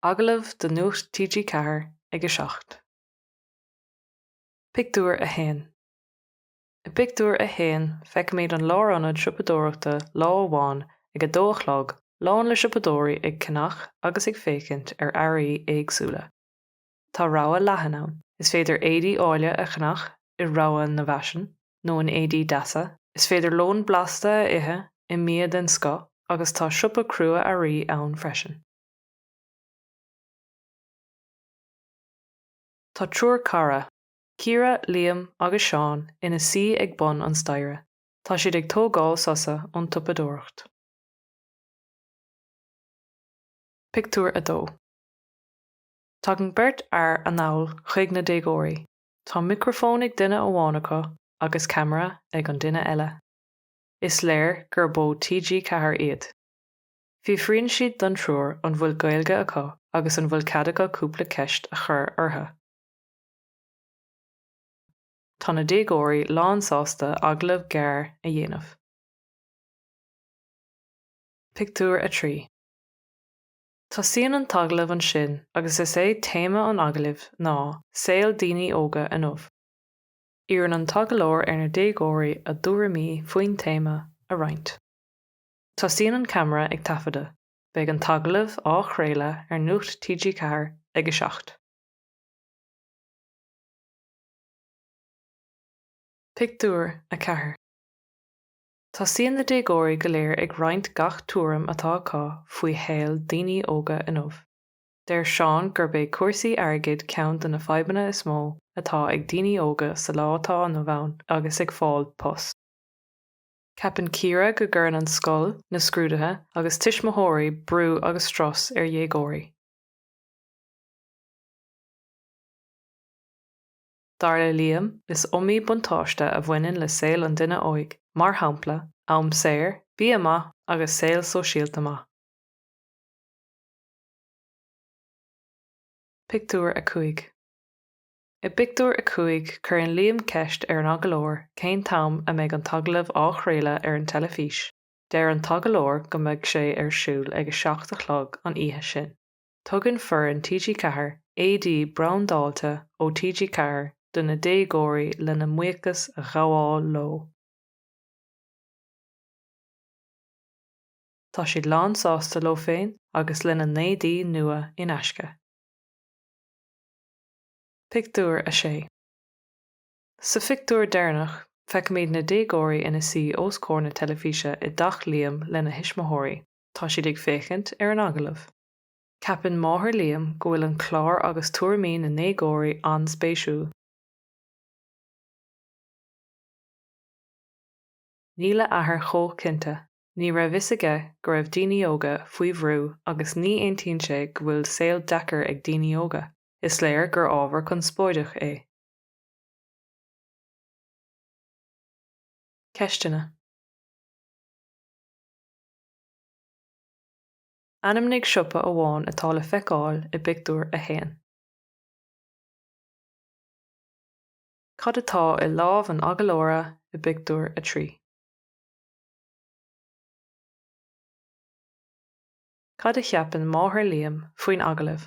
Agallamh do Nuacht TG4 ag a seacht. Pictiúr a 1 I bpictiúr a haon feicimid an lárionad siopadóireachta lá amháin ag a dó a chlog lán le siopadóirí ag ceannach agus ag féachaint ar earraí éagsúla. tá rogha leathan ann. Is féidir éadaí áille a cheannach i rogha na bhfaisean nó in éadaí deasa, is féidir lón blasta a ithe i mbia den scoth agus tá siopa crua-earraí ann freisin. Tá triúr cara, Ciara, Liam agus Seán, ina suí ag bun an staighre. Tá siad ag tógáil sosa ón tsiopadóireacht. Pictiúr a 2 Tagann beirt fhear anall chuig na déagóirí. Tá micreafón ag duine amháin acu agus ceamara ag an duine eile. Is léir gurb ó TG Ceathair iad. Fiafraíonn siad den triúr an bhfuil Gaeilge acu agus an bhfuil cead acu cúpla ceist a chur orthu. Tá na déagóirí lánsásta agallamh gearr a dhéanamh. Pictiúr a 3. Tosaíonn an t-agallamh ansin agus is é téama an agallaimh ná 'Saol Daoine Óga Inniu'. Iarrann an t-agallóir ar na déagóirí a dtuairimí faoin téama a roinnt. Tosaíonn an ceamara ag taifeadadh. Beidh an t-agallamh á chraoladh ar Nuacht TG4 ag 7. Pictiúr a 4. Tosaíonn na déagóirí go léir ag roinnt gach tuairim atá acu faoi shaol daoine óga inniu. Deir Seán gurb é cúrsaí airgid ceann de na fadhbanna is mó atá ag daoine óga sa lá atá inniu ann agus ag fáil post. Ceapann Ciara go gcuireann an scoil, na scrúduithe agus tuismitheoirí brú agus strus ar dhéagóirí. Dar le Liam, is iomaí buntáiste a bhaineann le saol an duine óig, mar shampla, am saor, bia maith agus saol sóisialta maith. Pictiúr a 5 I bpictiúr a cúig cuireann Liam ceist ar an agallóir cén t-am a mbeidh an t-agallamh á chraoladh ar an teilifís. Deir an t-agallóir go mbeidh sé ar siúl ag a seacht a chlog an oíche sin. tugann foireann TG4 éadaí brandáilte ó TG4 do na déagóirí lena mbuíochas a ghabháil leo. Tá siad lánsásta leo féin agus lena n-éadaí nua in aisce. Pictiúr a 6 Sa phictiúr deireanach, feicimid na déagóirí ina suí os comhair na teilifíse i dteach Liam lena thuismitheoirí. Tá siad ag féachaint ar an agallamh. Ceapann máthair Liam go bhfuil an clár agus tuairimí na ndéagóirí an-spéisiúil. Níl a athair chomh cinnte. Ní raibh fhios aige go raibh daoine óga faoi bhrú agus ní aontaíonn sé go bhfuil saol deacair ag daoine óga. Is léir gur ábhar conspóideach é. Ceisteanna. Ainmnigh siopa amháin atá le feiceáil i bpictiúr a haon. Cad atá i lámh an agallóra i bpictiúr a trí? Cad a cheapann máthair Liam faoin agallamh?